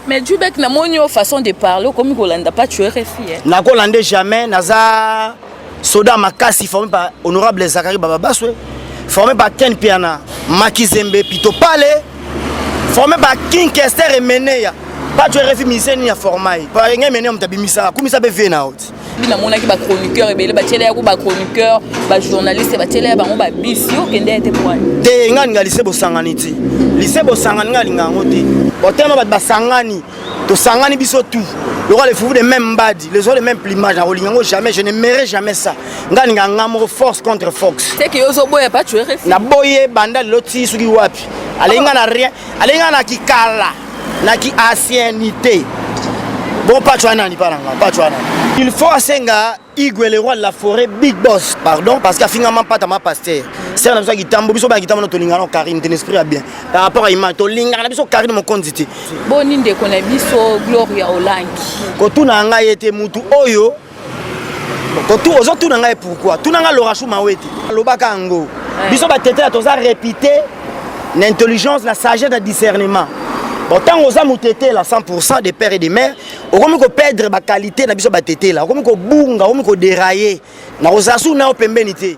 Mais Djoubek na moni au façon de parler comme Golanda pas tu RFI. Hein. Na Golanda jamais naza soda makasi formé par honorable Zachary Bababaswe, formé par Ken Piana, Makizembe Pito Pale, formé par King Kester et Meneya. Pas tu RFI musicien ni ya formai. Par ngé Meneya mtabimisa, kumisa be vie na haute. bi namonaki bachroniqueur ebele batiela yako bachroniqueur bajournaliste batiela ya bango babisi okende ete pwani te nga alinga lise bosangani ti lise bosangani nga alinga yango te botema bato basangani tosangani biso tout lokola les foufous de même mbadi les autres de même plumage nakolinga yango jamais je ne mere jamais ça nga alinga nga moko force contre fox naboye banda lelo ti soki wapi alinga na rien alinga na kikala na ki anciennité bon patch wana nani mpa na nga patch wana il faut asenga igwe le roi de la forêt big boss pardon parce que afinga mampata ma pasteur sere na biso ya kitambo biso baya kitambo na tolingana na karine ten esprit ya bien par rapport à image tolingana na biso karine mokonzi te boni ndeko na biso gloria olangi kotuna ngai ete motu oyo ozotuna ngai pourkui tuna ngai lorachou mawete alobaka yango biso batetela toza répité na intelligence na sagesse na discernement bon ntango oza motetela 100 de père et de mère okomi koperdre baqualité na biso batetela okomi kobunga okomi koderaye nakozala suku nayo pembeni te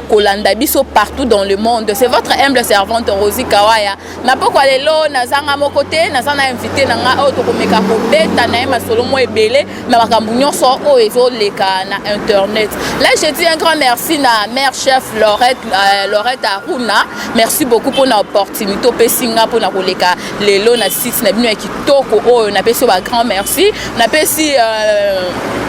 kolanda biso partout dans le monde c'est votre humble servante rosi kawaya na pokwa lelo nazanga moko te naza na invité na ngai oyo tokomeka kobeta na ye masolo mwa ebele na makambo nyonso oyo ezoleka na internet là je dis un grand merci na mère chef lorette, euh, lorette aruna merci beaucoup mpona opportunité opesi nga mpona koleka lelo na site na bino ya kitoko oyo napesi ba grand merci napesi euh,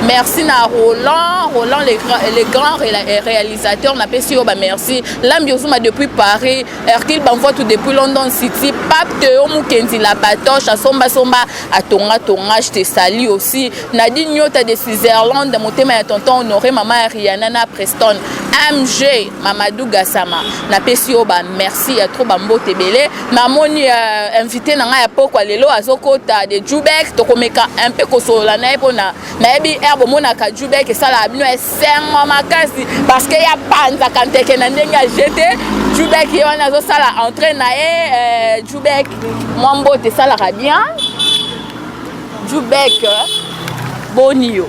merci na roland roland le, le grand euh, réalisateur napesi yo bamerci lambi ozuma depuis paris hercule banvoitu depuis london city pape teo mokenzi la patoche asombasomba atongatonga je te sali aussi nadi nyota de switzerland motema ya tonton honore mama ya riana na preston mg Mamadou Gassama napesi yo ba merci ya trop bambote ebele namoni uh, invité na ngai ya pokwa lelo azokota de jubek tokomeka un peu kosolola na ye mpona nayebi r bomonaka jubek esalaka bino esengo makasi parce que ya panzaka nteke na ndenge ya jete jubek ye wana azosala entrée na ye euh, jubek mwa mbote esalaka bien jubek boni yo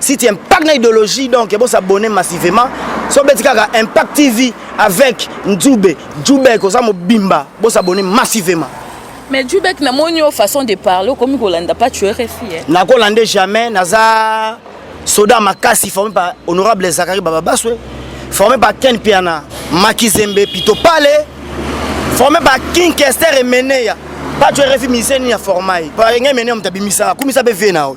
si tu impact na idéologie donc bo s'abonner massivement so beti kaka impact tv avec nzube jubek oza mobimba bo s'abonner massivement mais jubek na moni yo façon de parler okomi kolanda pas tu rfi eh? nakolande jamais naza soda makasi formé par honorable zakari bababaswe formé par ken piana makizembe pito pale formé par king kester emeneya pas tu rfi musicien nini ya formai par enga emeneya moto abimisaka kumisa mpe vie na yo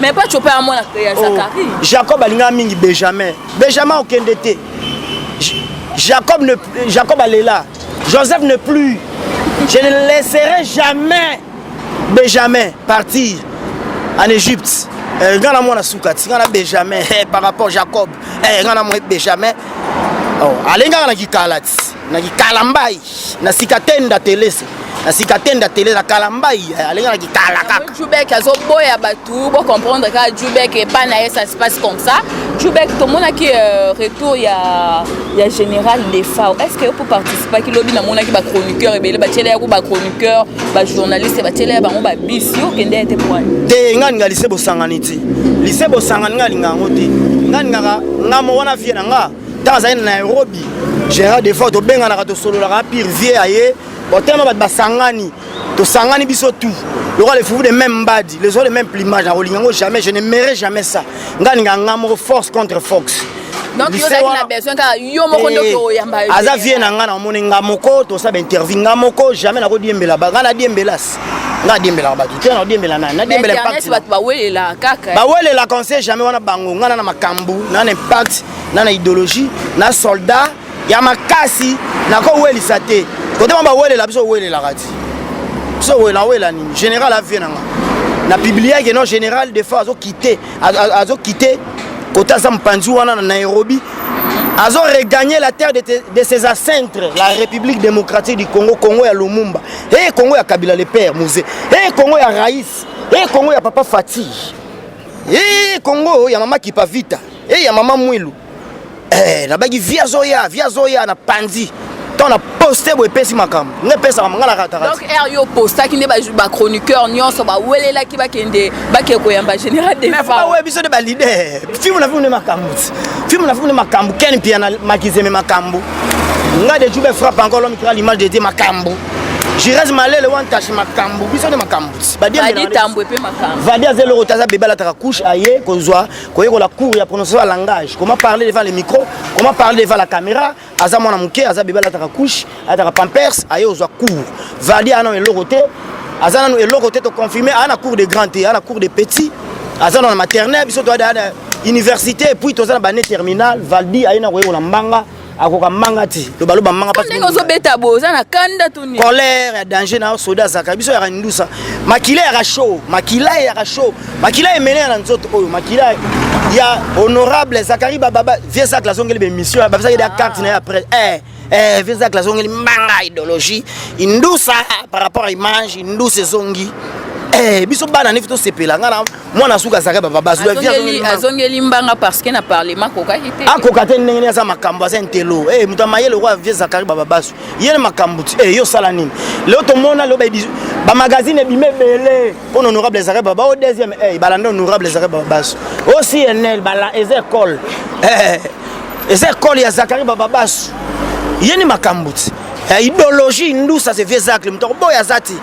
mais pas chopa ya mwana ya oh, Zacharie oh, Jacob alinga mingi Benjamin Benjamin okende te Jacob ne Jacob alela Joseph ne plus je ne laisserai jamais Benjamin partir en Égypte eh, nga na mwana suka ti nga na Benjamin eh, par rapport Jacob eh, nga na mwana Benjamin oh, alengaka na kikala ti na kikalambai na sika tenda telese na sika tenda tele na kalambai eh, alenganaki kala kaka jubek azoboya bato bocomprendre kaka jubek epai na ye ça se passe comme ça jubek tomonaki euh, retour ya ya général defao est ce que yo poparticipaki lobi namonaki bachroniqueur ebele batiela yako bachroniqueur bajournaliste batiela ya bango babisi yo okende ete pwani te ngai ninga lise bosangani ti lise bosangani ngai alinga yango te ngai ningaka ngai mo wana vie na ngai ntango azali na nairobi général defort tobenganaka tosololaka pire vie aye botelema bato basangani tosangani biso tout lokola le fufu de même mbadi les oies de même plumage nakolinga yango jamais je ne merai jamais ça ngai ninga nga moko force contre fox aza vie na ngai namoni nga moko tosala bainterview nga moko jamais nakodiembela ba ngai nadiembelas impact nga adiembelaka bato te nadiembela nani nadiembela impact bato bawelelaka kaka eh. bawelelaka on sait jamais wana bango nga na na makambo na na impact na na idéologie na soldat ya makasi nakowelisa te kotema bawelela biso owelelaka ti biso owela owela nini général avie na nga na publiake non général de fois azokite azokite kota aza mopanzi wana na nairobi azo regagner la terre de, de ses ancêtres la république démocratique du congo congo ya lumumba Hey, Congo ya Kabila le père Mose. Hey, Congo ya Raïs. Hey, Congo ya papa Fati. Hey, Congo ya mama Kipavita. Hey, ya mama Mwilu. Eh, nabaki via zoya, via zoya na panzi. Tant na poste boye pesi makambo. Ne pesa makambo ngala kata. Donc er yo postaki nde ba ba chroniqueur nyonso ba welelaki ba kende ba ke koyamba général de. Mais fa ouais biso de ba leader. Film na film ne makambo. Film na film ne makambo. Ken pia na makizeme makambo. nga de jube frappe encore l'homme qui a l'image de Dieu makambo jirage malele wan tache makambo biso nde makambo vadi aza eloko te aza bebe alataka couche aye kozwa koyekola cour ya prononciation ya langage comment parler devant le micro comment parler devant la caméra aza mwana moke aza bebe alataka couche alataka pampers aye kozwa cour vadi ana eloko te aza nanu eloko te toconfirme ana cour de grand te ana cour de petit aza na maternel biso toada université et puis toza na bane terminal valdi ayina koyekola mbanga akoka mbanga ti lobaloba mbanga pasi ndenge ozobeta bo oza na kanda to nini colère ya danger na soda azaka biso yaka ndusa makila yaka show makila yaka show makila emene ya na nzoto oyo makila ya honorable zakari bababa vieux zacle azongeli bemission babisaki da carte na ye après eh eh, vieux zacle azongeli mbanga idéologie indusa par rapport à image indusa ezongi Eh, biso bana nefi tosepela ngai na mwana suka azalaka babazozongeli mbanga parceke na parlement akokaki te akoka te ndenge nini aza makambo aza intelo e eh, moto amayele okoya vie zakari bababasu ye na makambo ti e eh, yo osala nini leo tomona leo bamagazine ebima ebele mpona honorable ezakari baba o deuxième e balanda honorable ezakari bababasu o cnl eza ekole eza ekole ya zakari bababasu ye ni makambo ti ya idéologie indusa se vieux zacle moto akoboya aza ti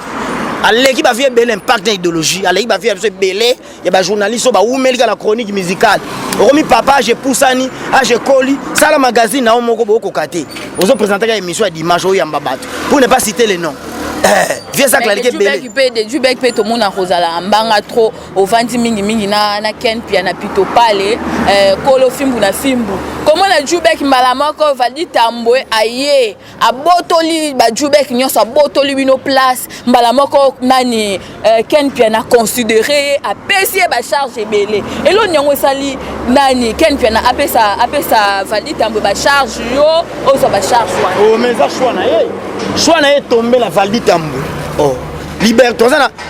aleki bavie ebele impact na idéologie aleki bavie ya biso ebele ya bajournaliste oyo bawumeli kaka na chronique musicale okomi papa age epusani age ekoli sala magazine na yo moko bokokoka te ozopresente kaka émission ya dimanche oyamba bato pour ne pas citer le nom Eh, vieux zacle aleki ebele mpe tomona kozala mbanga trop ovandi mingi mingi na, na ken pia na pito pale eh, kolo fimbu na fimbu komona jubek mbala moko valdi tambwe aye abotoli bajubek nyonso abotoli bino place mbala moko nani eh, ken pia na considere ye apesi ye bacharge ebele eloni yango esali nani ken pia na apesa, apesa valdi tambwe bacharge yo ozwa bacharge wana oh, mais eza shwa na ye shwa na ye tombe na valdi tambwe oh. liberté oza na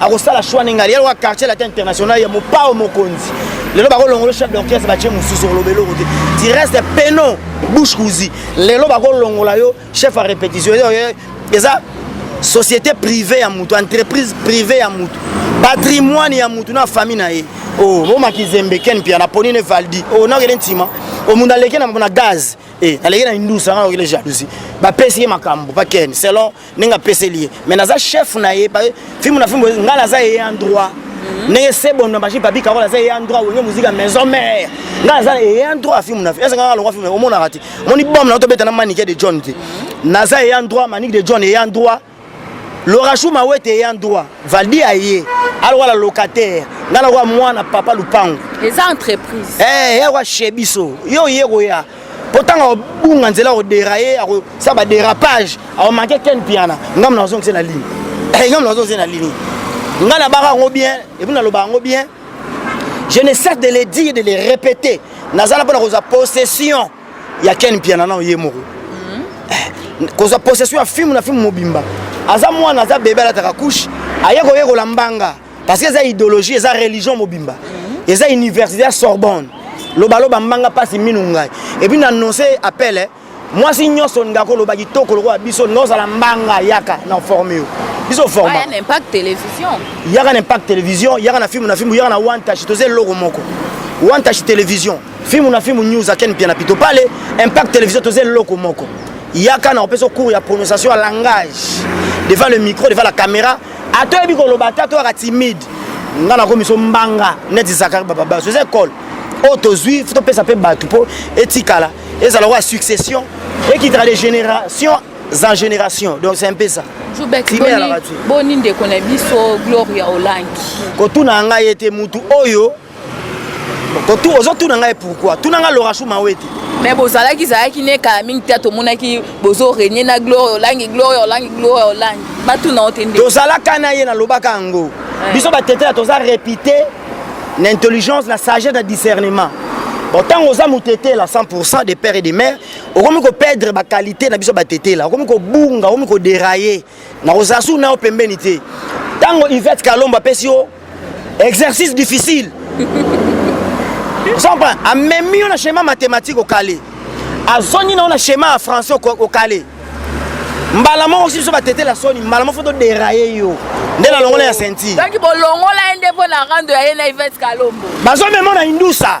akosala choix ndenge ali yaloka quartier latin international ya mopao mokonzi lelo bakolongolo chef d'orchestre batie mosusu oloba eloko te tu reste peno bouche cousi lelo bakolongola yo chef ya répétition eza société privée ya motu entreprise privée ya motu patrimoine ya motu na famille na ye o oh, omakizembe ken mpia na poni ne valdi o oh, nakende ntima omuntu oh, aleki na gaz e eh, aleki na indusa nga okende jalousie bapesi ye makambo pa ken selon ndenge apeseli ye mais naza chef na ye fimbu na fimbu ngai naza ye en droit mhm. ndenge sebon na machine papi karol aza ye en droit wenge mozika maison mère ngai naza ye en droit fimbu na ese ngai alongwa fimbu omonaka te omoni bom na tobeta na manike de john te mhm. naza ye en droit manike de john ye en droit lorachou mawete ye en droit valdi aye alongwa la locataire ngai nakoya mwana papa lupango eza entreprise eh, ye akoya chez biso yo oye koya mpo ntango akobunga nzela akoderaye akosala baderapage akomanke ken mpiana ngambo na ozongise na lini eh, ngambo na ozongise na lini ngai nabaka yango bien epuis nalobaka yango bien je ne cesse de le dire de le répéter nazala mpo na kozwa possession ya ken mpiana nao ye moko mhm. eh, kozwa possession ya filme na filme mobimba aza mwana aza bebe alataka couche aye koyekola mbanga parce que eza idéologie eza religion mobimba mhm. eza université ya sorbonne lobaloba mbanga mpasi minu ngai epuis na annonce appel eh. mwasi nyonso olinga koloba kitoko lokola biso olinga ozala mbanga yaka na forme yo biso formayaka ah, na impact télévision yaka na impact télévision yaka na filme na filme yaka na wantashi toza eloko moko wantashi télévision filme na filme news aken mpiana pito pale impact télévision toza eloko moko yaka na opesa cours ya prononciation ya langage devant le micro devant la caméra ata oyebi koloba ata toyaka timide nga nakomi so mbanga neti zakari bababaso eza ekole oyo tozwi topesa mpe bato mpo etikala ezala kwa succession ekitaka de génération en génération donc c'est un peu ça boni ndeko na biso gloria olangi kotuna ngai ete motu oyo ozotuna ngai pourkoi tuna ngai lorashu mawete me bozalaki zalaki nekala mingi te tomonaki bozo renie na gloria olangi gloria olangi gloria olangi batuna yo te nde tozalaka na ye nalobaka yango eh. biso batetela toza repite na intelligence na sagesse na discernement bon ntango oza motetela 100 de père et de mère okomi koperdre baqualité na biso batetela okomi kobunga okomi koderaye nakozala su nao pembeni te ntango ivete kalomba apesi yo exercice difficile ozompa amemi yo na schéma mathématique okale azongi na yo na schéma ya français okale mbala moko si biso batetela soni mbala moko fo toderaye yo nde nalongola ya senti soki bolongola ye nde mpo na rando ya ye na ivete kalombo bazomema na indusa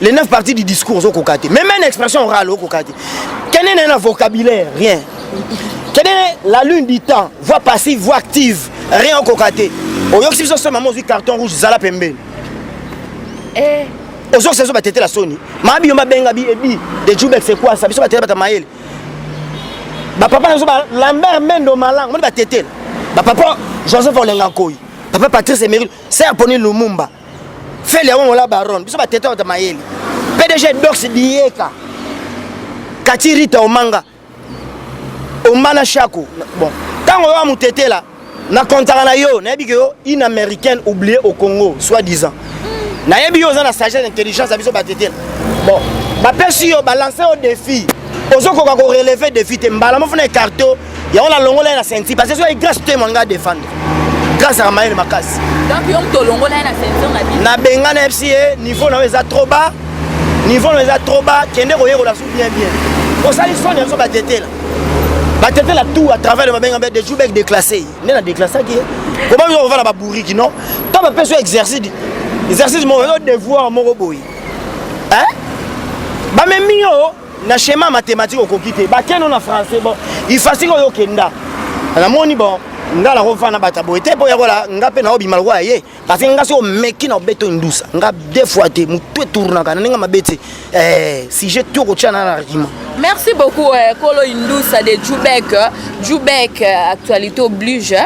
les 9 parties du discours ozokoka te même une expression orale okoka te kende na na vocabulaire rien kende la lune du temps voix passive voix active rien okoka te oyokisi biso soni mama ozwi carton rouge zala pembeni eh. ozokisa biso batetela soni maa biyo babenga bi ebi de jubek sekwasa biso batetela bata mayele bapapa na biso lambert mendo malango moni batetela bapapa joseph olenga nkoi papa patrice emeril ser poni lumumba feli yango ngola baron biso batete wata mayele pdg dox dieka kati rita omanga omana shako bon ntango oyo amotetela na kontaka na yo nayebi ke yo une américaine oublier au congo soit disant nayebi yo oza na sagesse intelligence ya biso batetela bon bapesi yo balanse yo défi ozokoka koreleve défi te mbala mofuna ekarte yango nalongola ye na senti parce ezwaki grâce te mwa ngai defendre grâce aka mayele makasi nabenga na yebisi ye niveau na yo eza trop bas niveau na yo eza trop bas kende koyekola su bien bien osali soni yango batetela batetela tout à travers le babenga mbe dejour bek déclassé nde na déclassaki ye koma biso kovanda babouriki non to bapesi yo exercice exercice moko yo devoir moko boye bamemi yo na schéma mathématique okoki te bakeno na français bon ifasi oyo okenda namoni bon nga nakofana bata boye te mpo yakola nga mpe naobima lokola ye parce nga soki omeki na obeto indusa nga deux fois te motu etournaka na ndenge mabe te eh, sujet to kotia na na argument merci beaucoup eh, kolo indusa de jubek jubek eh, actualité oblige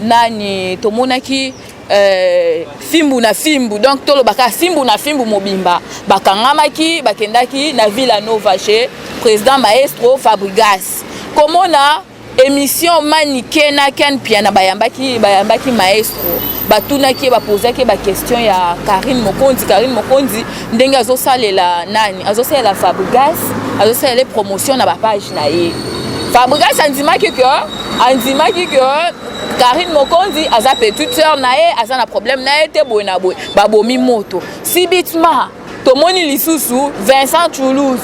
nani tomonaki Euh, fimbu na fimbu donc tolobaka fimbu na fimbu mobimba bakangamaki bakendaki na villa nova chez président maestro fabrigas komona émission manike na ken piana bayambaki, bayambaki maestro batunaki ye bapozaki ye baquestion ya karine mokonzi karine mokonzi ndenge azosalela nani azosalela fabrigas azosalela ye promotion na bapage na ye fabrigas andimaki ke andimaki ke Karine Mokonzi aza petite sœur na ye aza na problème na ye te boye na boye babomi moto sibitima tomoni lisusu Vincent Toulouse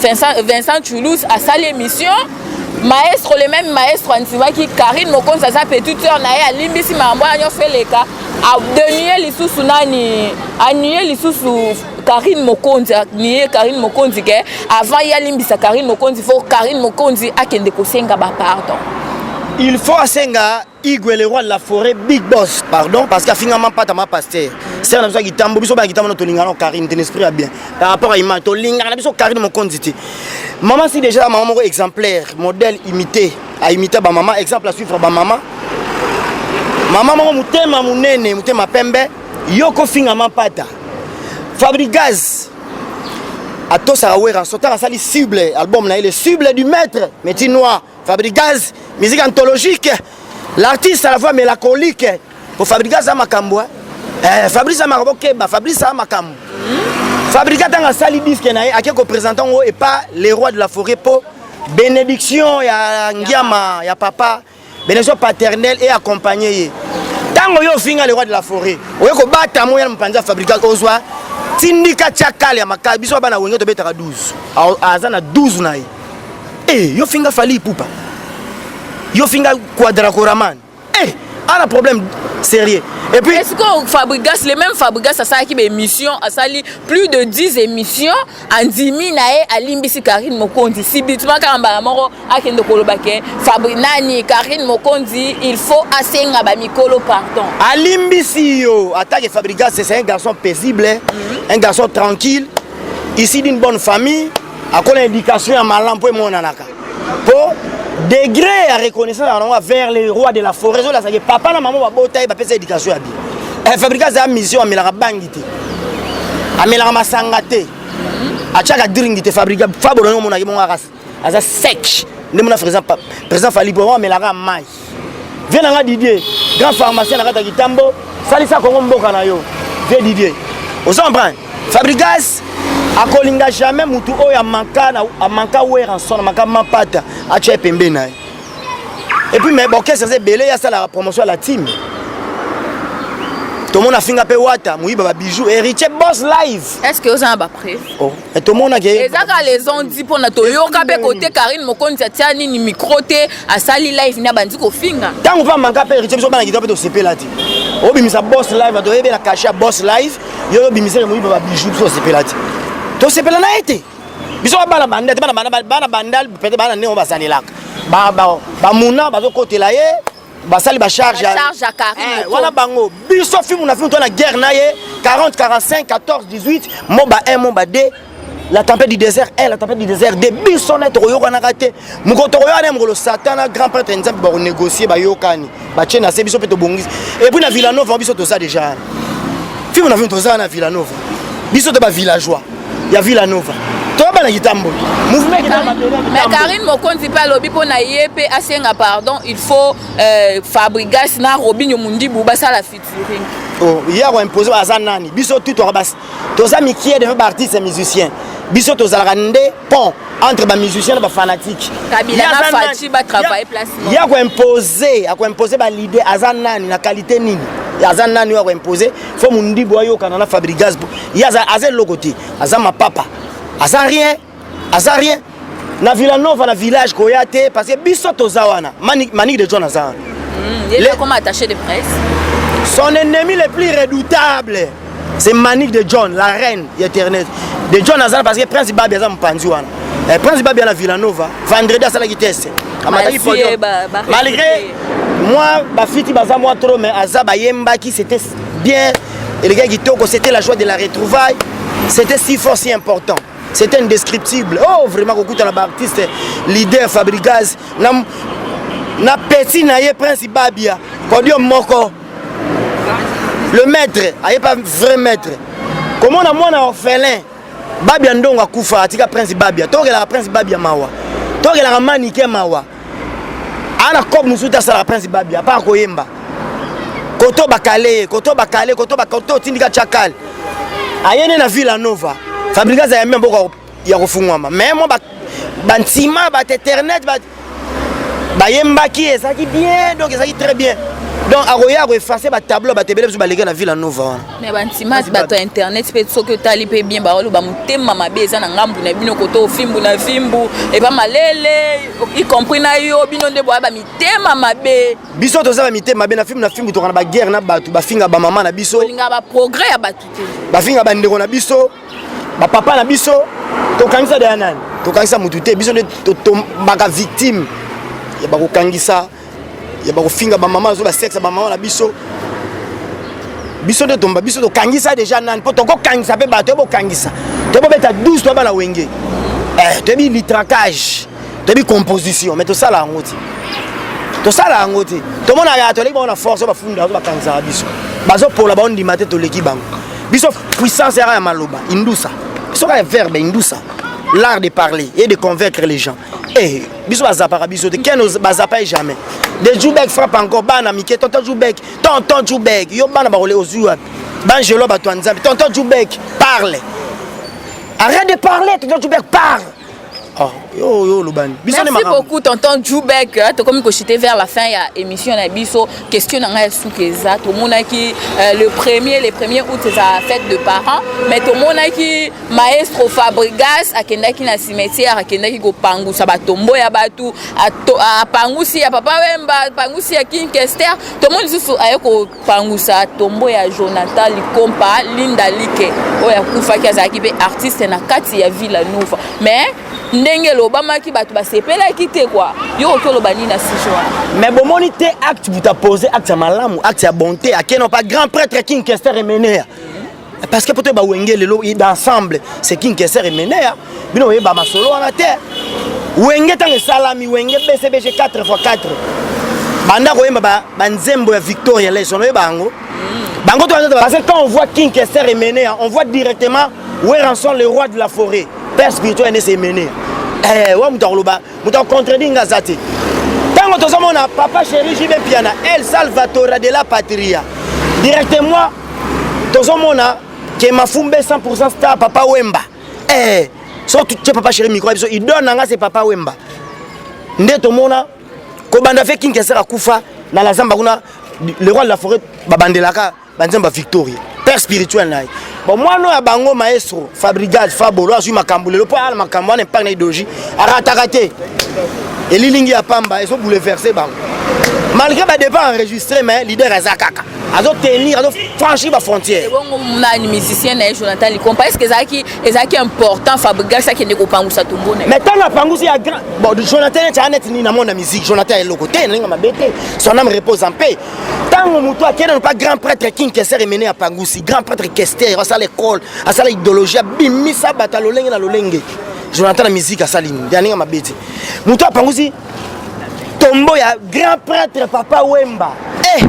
Vincent, Vincent Toulouse asali émission maestro le même maestro andimaki Karine Mokonzi aza petite sœur na ye alimbisi makambo wana nyonso eleka anuye lisusu nani anuye lisusu Karine Mokonzi nie Karine Mokonzi ke avant ye alimbisa Karine Mokonzi faut Karine Mokonzi akende kosenga ba pardon il faut asenga igwe le roi de la forêt big boss pardon parce que afinga mampata ma pasteur sere na biso ya kitambo biso baya kitambo na tolingana karine ten esprit ya bien par rapport ya image tolingana na biso karine mokonzi te mama si déjà mama moko exemplaire modèle imité aimita bamama exemple asuivre bamama mama moko motema monene motema pembe yo kofinga mampata Fabrigaz atosaka Werrason tala asali cible album na ye le cible du maître Meti Noir Fabrigaz musique anthologique l'artiste à la voix mélancolique po Fabrigaz aza makambo eh, Fabrice aza makambo okeba Fabrice aza makambo hmm? Fabrigaz ntango asali disque na ye ake kopresente yango epa le roi de la forêt po benediction ya ngiama ya papa benediction paternelle et accompagne ye ntango yo ofinga le roi de la forêt oye kobata moya na mopanzi ya fabrical ozwa tindika tya kale ya makala biso bana wenge tobetaka 12 aza na 12 na ye e eh, yo finga fali ipupa yo finga quadracoraman e eh, ana problème sérieux et puis est-ce que fabrigas le même fabrigas asalaki baémission asali plus de 10 émissions andimi na ye alimbisi karine mokonzi sibitima kaka mbala moko akende koloba ke fabri nani karine mokonzi il faut asenga bamikolo pardon alimbisi yo atake fabrigas c'est un garçon paisible mm -hmm. un garçon tranquille ici d'une bonne famille akola éducation ya malamu mpo emonanaka po degré ya reconnaissance yango vers le roi de la forêt ezolasaki papa na mama babota ye bapesa éducation ya bien eh, fabrika aza mission amelaka bangi te amelaka masanga te atiaka dringi te fabrika fabolo yango omonaki bongo akasi aza sec nde mona président fali po amelaka mai vie na nga didier grand pharmacien na kati ya kitambo salisa kongo mboka na yo vie didier ozo comprendre fabrigas akolinga jamais mutu oyo amanka amanka weranson amanka mapata atya ye pembeni na ye epuis mai borkestre eza ebele ye asalaka promotion ya la team tomona afinga mpe wata moyiba babijou héritier bos live est ce que oza na bapreuve oh. Eh, tomonaki eza kaka les ont dit mpona toyoka mpe kote karine mokonzi atia nini micro te asali live nde abandi kofinga ntango mpe amaka mpe héritier biso bana kitoko mpe tosepela te obimisa boss live bato oyebi na kashe ya boss live yo yo obimisa ya moyiba babijou biso tosepela te tosepela na ye te biso babana banda te bana bandal peut-être bana ndenge bazalelaka bamuna bazokotela ye basali ba charge ya Karine eh, wana bango biso film na film to na guerre na ye 40 45 14 18 moba 1 moba 2 la tempête du désert 1 la tempête du désert 2 biso na tokoyokanaka te mokolo tokoyokana mokolo satan na grand prêtre ya nzambe bakonégocier bayokani batie na se biso mpe tobongisi epuis na villanova biso toza déjà film na film toza na villanova biso te ba villageois ya Villa Nova toyeba na kitamboli mais karine mokonzi mpe alobi mpo na ye mpe asenga pardon il faut euh, fabrigas na robinio mundibu basala featuring oh, ye akoimpose aza nani biso tu toza mikie defa baartiste musicien biso tozalaka nde pont entre bamusicien na bafanatike ye akoimpose akoimpose balide aza nani na qualité nini aza nani oyo akoimpose fo mundibu ayokana na fabrigaz ye aza eloko te aza mapapa aza rien aza rien na villanova na village koya te parce que biso toza wana manike de john aza wana hmm, son ennemi le plus redoutable c'est manike de john la reine ya internet de john aza parce que prince babi aza mopanzi wana eh, prince babia na villanova vendredi asalaki test amataki podium malgré moi bafiti baza mwa trop mais aza bayembaki c'était bien eleki kitoko c'était la joie de la retrouvaille c'était si fort si important c'est indescriptible oh vraiment kokutana baartiste leader fabrigaz na, na petit na ye prince babia podium moko le maître aye pas vrai maître komona mwana orphelin Babia ndongo akufa atika prince Babia. Tokelaka prince Babia mawa. Tokelaka manike mawa. Ana kob musuta asala prince Babia pa koyemba. Koto bakale, koto bakale, koto bakoto tindika chakal. Ayene na Villa Nova. Fabricas ayambi mboko ya kofungwama. Mais moi ba bantima ba internet ba bayembaki ezalaki bien donc ezalaki très bien donc akoya koefase batableau bato ebele biso baleki na ville anova wana mais bantima bato ya internet mpe soki otali mpe bien baoloba motema mabe eza na ngambu na bino koto ofimbu na fimbu epa malele y compris na yo bino nde boya bamitema mabe biso toza bamitema mabe na fimbu na fimbu tokana baguerre na bato bafinga bamama na biso olinga baprogrès ya bato te bafinga bandeko na biso ba papa na biso tokangisa deya nani tokangisa motu te biso nde totombaka victime ya bakokangisa ya bakofinga bamama nazo basexe bamama na biso biso nde tomba biso tokangisa deja nani mpo tokokangisa mpe bato ebokangisa tobobeta 12 toyaba na wenge eh, toyebi litracage toyebi composition mais tosala yango te tosala yango te tomonaka toleki bango na force bafunda bazo bakanisaka biso bazopola baondima te toleki bango biso puissance yaka ya maloba indusa biso kaka verbe indusa l'art de parler et de convaincre les gens eh biso bazapaka biso te ken bazapa ye jamais de jubek frappe encore bana mike tonton jubek tonton jubek yo bana bakole ozwi wapi bangelo bato ya nzambe tonton jubek parle arrête de parler tonton jubek parle Ah, yo yo lobani. Biso ne Merci beaucoup tonton Jubek. Euh, tokomi ko chiter vers la fin ya émission na biso. Question na ngai suka eza to monaki euh, le premier le premier août eza fête de parents mais to monaki maestro Fabregas akendaki na cimetière akendaki ko pangusa ba tombo ya batu a pangusi ya papa Wemba pangusi ya King Kester. To moni susu aye ko pangusa tombo ya jonathan likompa linda like oyo akufaki azalaki mpe artiste na kati ya villa nova mais ndenge elobamaki bato basepelaki te kwa yo oki oloba nini na sujet wana mais bomoni te acte butapose acte ya malamu acte ya bonte akeno pa grand prêtre king kester emenea parce que poto ba wenge lelo d'ensemble c'est king keser emenea bino oyeba masolo wana te wenge ntango esalami wenge bcbg 4 fois 4 banda koyemba banzembo ya victoria leson oyeba yango mm. bango to parce que quand on voit king keser emenea on voit directement weranson le roi de la forêt père spirituel ene se emenea eh, wa moto akoloba moto ya contredit nga aza te ntango tozomona papa chéri jibe mpiana el salvatora de la patria directement tozomona ke mafumbe 100 star papa wemba eh, so tutye papa chéri micro ya biso idole na nga se papa wemba nde tomona kobanda fe kinkesera kufa na lazamba kuna le roi de la forêt babandelaka banzembo ya victoria père spirituel na ye bon mwana oyo ya bango maestro fabrigage fabolo azwi makambo lelo mpo ayala makambo wana epai na idologie arataka te elilingi ya pamba ezo bouleverse bango malgré badépart enregistré mais leader aza kaka azotenir azofranchir bafrontière ebongo nani musicien na ye jonathan likompa est ce que ezalaki ezalaki important fabrigas akende kopangusa tombo na ye mais ntango apangusi ya grand bon jonathan neti aa neti nini na mona musique jonathan ya eloko te naninga mabe te son ame repose en paix ntango moto akei nano mpa grand prêtre king kester emene ya pangusi grand prêtre kester asala ekole asala idéologie abimisa bato ya lolenge na lolenge jonathan na miziki asali nini ya ndenge mabe te moto apangusi tombo ya grand prêtre papa wemba e eh!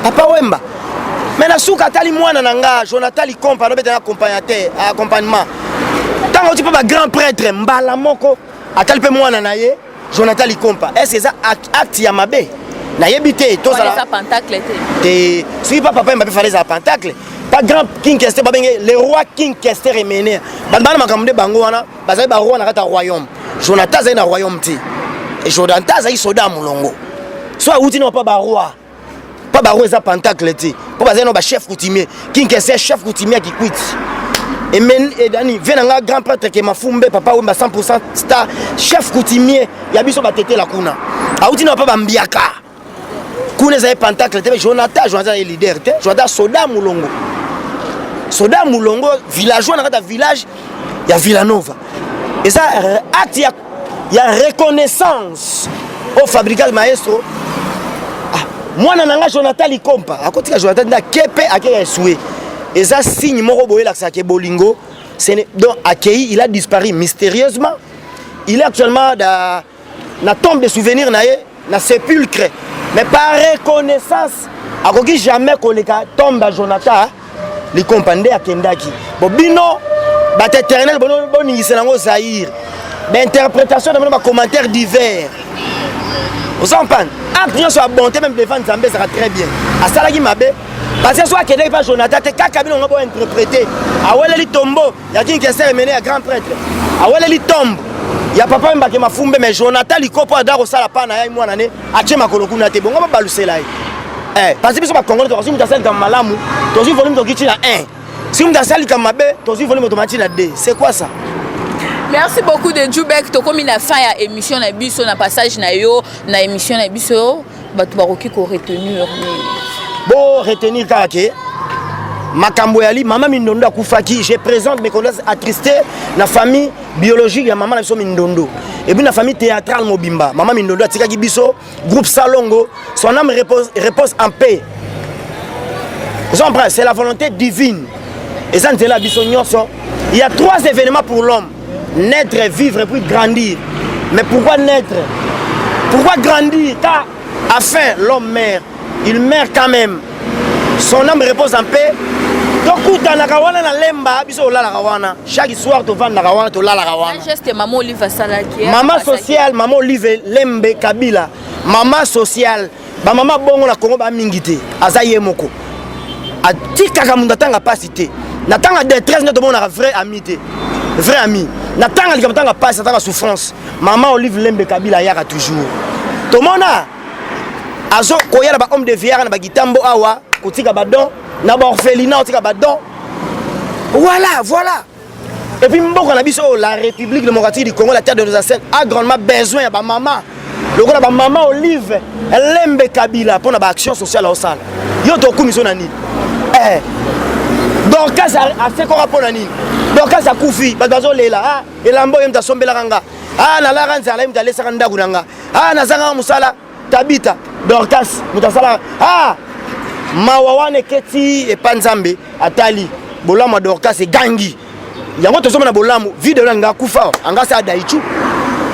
papa wemba me na suka atali mwana na nga jonathan likompa anobeta na accompagnateur accompagnement ntango oti mpe bagrand prêtre mbala moko atali mpe mwana na ye Jonathan Likompa, est-ce que ça acte ya mabe? Nayebi te, to sala. Ça pentacle te. Te, si pas papa Mbappé fallait ça pentacle. Pas grand King Kester ba benge le roi King Kester est mené. Ba bana makamde bango wana, bazali ba roi na kata royaume. Jonathan azali na royaume te. Et Jonathan azali soda mulongo. Soit outi non pas ba roi. mpo bango eza pentacle te mpo bazali na bachef coutumier kinkese chef coutumier ya kikwiti edani vie na nga grand prêtre ke mafumbe papa wemba 100 star chef coutumier ya biso batetela kuna auti na papa bambiaka kuna ezali pentacle te jonathan jonathan azali leader te jonathan soda molongo soda molongo villageois na kati ya village ya villanova eza acte ya ya reconnaissance au fabrica le maestro ah, mwana na nga jonathan likompa akotika jonathan nde ake mpe akeya esue eza signe moko boye elakisaka ke bolingo donc akei il a disparu mystérieusement il est actuellement da, na tombe de souvenir na ye na sepulcre mais par reconnaissance akoki jamais koleka tombe ya jonathan likompa nde akendaki bo bino bato éternel boningisa nango zaire bainterprétation na bino bacommentaire divers oza mpane acte nyonso ya bonté meme devant nzambe ezalaka très bien asalaki mabe parce que so akendaki mpa jonathan te kaka bino ngo bointerprete aweleli tombo ya king kester emene ya grand prêtre aweleli tombe ya papa mbake mafumbe mais jonathan likopo ada kosala pa na ye mwana ne atie makolo kuna te bongo babalusela ye eh, pasi biso bakongole tokosi moto asali likambo malamu tozwi volume tokiti na 1 si moto asali likambo mabe tozwi volume tomati na 2 c'est quoi ça merci beaucoup de jubek tokomi na fin ya émission na biso na passage na yo na émission na biso bato bakoki ko retenir nini bo retenir kaka ke makambo yali mama mindondo akufaki je présente mes condoléances attristées na famille biologique ya mama na biso mindondo epuis na famille théâtrale mobimba mama mindondo atikaki biso groupe salongo son âme repose, repose en paix c'est la volonté divine eza nzela ya biso nyonso il y a trois événements pour l'homme Naître, vivre, puis grandir. Mais pourquoi naître Pourquoi grandir Car, afin, l'homme meurt. Il meurt quand même. Son âme repose en paix. tokutanaka wana na lemba biso tolalaka wana chaque soir tovandaka wana tolalaka wanamama sociale mama olive lembe kabila mama sociale Ba mama bongo na Congo ba mingi te. Aza ye moko. Atikaka mundo atanga pasi te. Na tanga détresse ndoto monaka vrai ami te. Vrai ami. Na tanga likambo tanga pasi, tanga souffrance. Mama Olive Lembe Kabila yaka toujours. Tomona azo koya na ba homme de viera na ba gitambo awa kotika ba don na ba orphelinat otika ba don. Voilà, voilà. Et puis mboka na biso la République démocratique du Congo la terre de nos ancêtres a grandement besoin ya ba mama lokola ba mama Olive Lembe Kabila pona ba action sociale osala yo tokumi so na nini eh Dorcas asekora pona nini Dorcas akufi bato bazolela ah elamba oyo moto asombelaka nga ah nalara nzala ye moto alesaka ndako na nga ah nazangaka mosala tabita dorcas moto asala ah! mawa wana eketi epa nzambe atali bolamu ya dorcas egangi yango tozomona bolamu vide loin nga akufa anga asa adaichu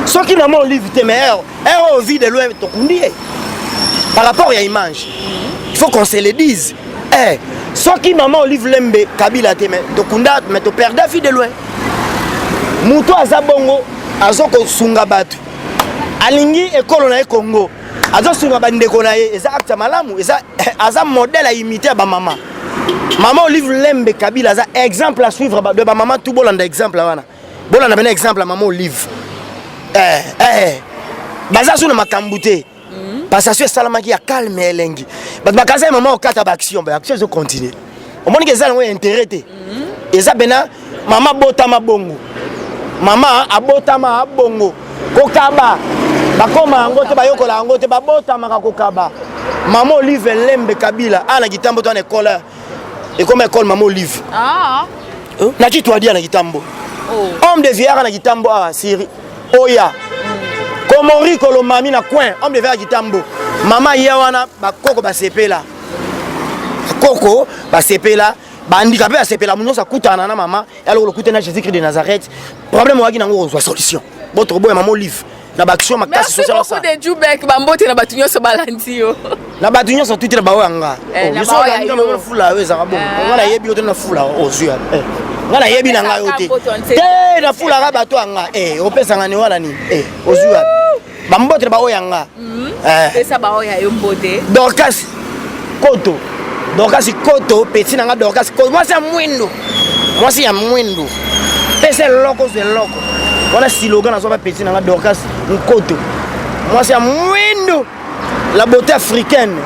soki na mwa olive te mais ero ero vide loin tokundi ye par rapport ya image il faut qu'on se le dise eh, soki mama olive lembe kabila te mais tokunda mais toperda vide loin moto aza bongo azokosunga bato alingi ekolo na ye congo azosunga bandeko na ye eza acte ya malamu eza aza modèle aimite ya bamama mama olive lembe kabila aza exemple à suivre de bamama tu bolanda exemple wana bolanda mpena exemple ya mama olive eh, eh. baza su na makambo te Mhm. Passation esalamaki ya calme ya elengi. Bato bakaza ya mama okata ba action, ba action ezo continuer. Omoni ke eza yango ya intérêt te. Mhm. Eza bena mama botama bongo. Mama abotama abongo. Kokaba bakoma yango te bayokola yango te babotamaka kokaba mama olive lembe kabila ana kitambo to ana ekola ekoma ekole mama olive ah. hein? na kitu adia na kitambo oh. homme de viara na kitambo awa ah, siri oya komori kolomami na coin homme de viara kitambo mama ya wana bakoko basepela bakoko basepela bandika mpe basepela nyonso akutana na mama ya lokolo okutani na jésus christ de nazareth problème oyaki nango kozwa solution botokoboya mama olive na baaction makasi social ça. Merci beaucoup de ba bambote na bato nyonso balandi yo. Na bato nyonso tuti na baoyo ya nga. Eh, oh, Yoso olandi kama na fula yo ezaka bongo. Eh. Nga nayebi yo te na fula ozwi ya. Eh. Nga nayebi na nga yo te. Te na fula ka bato ya nga. Eh, opesa nga ni wana ni. Eh, ozwi ya. Bambote na baoyo ya nga. Mhm. Eh. Pesa baoyo ya yo mbote. Dorcas. koto dorkasi koto peti na nga dorkasi koto mwasi ya mwindo mwasi ya mwindo pesa eloko ozwa eloko wana siloga nazwa bapeti na nga dorkasi nkoto mwasi ya mwindo la beauté africaine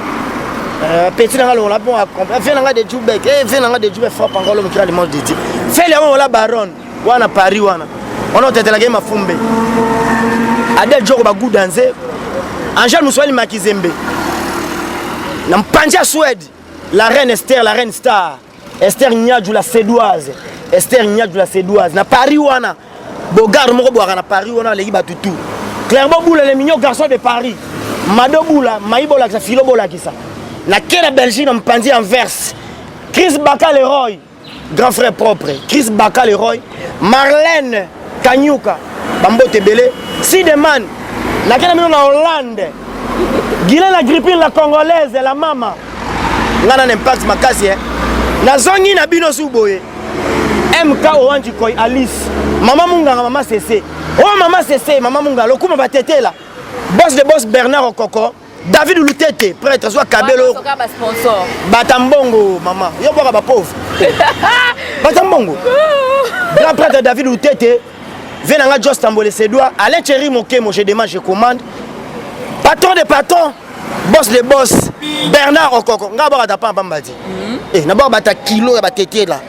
euh, peti na nga longola mpo akompre fe na nga de jubek e fe na nga de jubek frappe encore lomo kira limage de ti fe liango ola baronne wana paris wana wana otetelaka ye mafumbe adel joko baguda nze angel mosuali makizembe na mpanzi ya swede la reine ester la reine star ester nyaju la sedoise ester nyaju la sedoise na paris wana bogarde moko bwaka na paris wana aleki bato tout clairbo bula le mignon garçon de paris mado bula mai bolakisa filo bolakisa na ke na belgique na mpanzi ya anvers chris baka leroy grand frère propre chris baka leroy marlène kanyuka bambote ebele sideman nakenda bino na hollande gile na grippine la congolaise la mama ngai na na impact makasi e nazongi na bino su boye mk owanji koi alice mama munganga mama sese oyo oh, mama sese mama munganga lokuma batetela bos de bos bernard okoko david lutete prêtre zwa kabelo bata mbongo mama yo bwaka bapauvre bata mbongo grand prêtre david lutete vie na nga jos tambole sedoir alain cheri mokemo je demande je commande patron de patron boss de boss bernard okoko nga bwaka ta pamba mbadi mhm. eh, na bwaka bata kilo ya batetela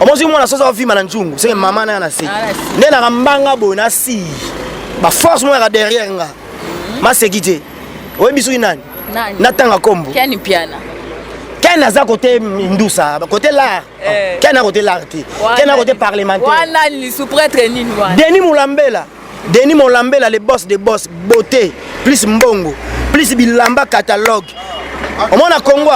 omozwi mwana soso avima na nzungu seke mama naya na se nde naka mbanga boye na si baforce moyaka derrière nga mhm. maseki te oyebi soki nani natanga kombo ken aza kote ndusa kote lar eh. ken akote lar te ken akote parlementaire-denis molambela denis molambela le boss de boss beauté plus mbongo plus bilamba catalogue omona kongo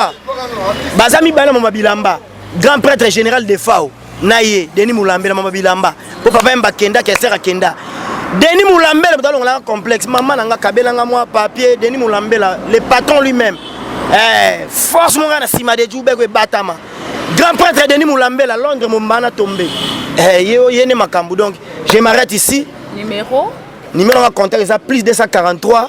baza mibale na moma bilamba grand prêtre général de fao na ye denis mulambela mama bilamba mpo papa yemba akendaki aser akenda denis mulambela moto alongolaka complexe mama na nga kabela nga mwa papier denis mulambela le patron lui-même eh, force mo ngai na nsima de jubeko ebatama grand prêtre denis mulambela londres mombana tombe eh, ye oye nde makambo donc je m'arrête ici numéro numéro nga contact eza plus 243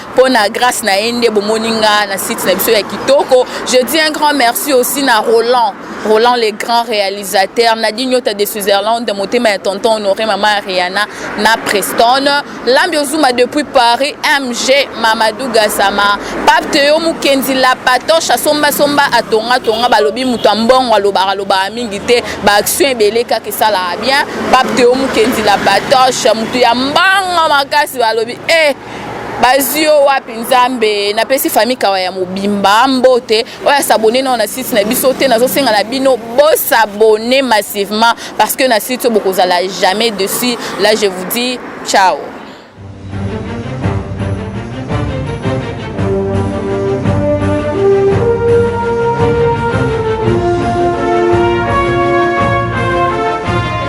mpo na grâce na ye nde bomoni nga na site na biso ya kitoko je dis un grand merci aussi na roland roland le grand réalisateur nadi nyota de switzerland motema ya tonton honore mama ariana na preston lambi ozuma depuis paris mg mamadou gasama pape teyo mokenzi la patoche asombasomba atongatonga balobi moto ya mbongo alobaka alobaka mingi te baaction ebele kaka esalaka bien pape teyo mokenzi la patoche moto ya mbongo makasi balobi e eh, bazwi yo wapi nzambe napesi famille kawa ya mobimba mbote oyo asabone nao na site na biso te nazosenga na bino bosabone massivement parce que na site oyo bokozala jamais dessus là je vous dis ciao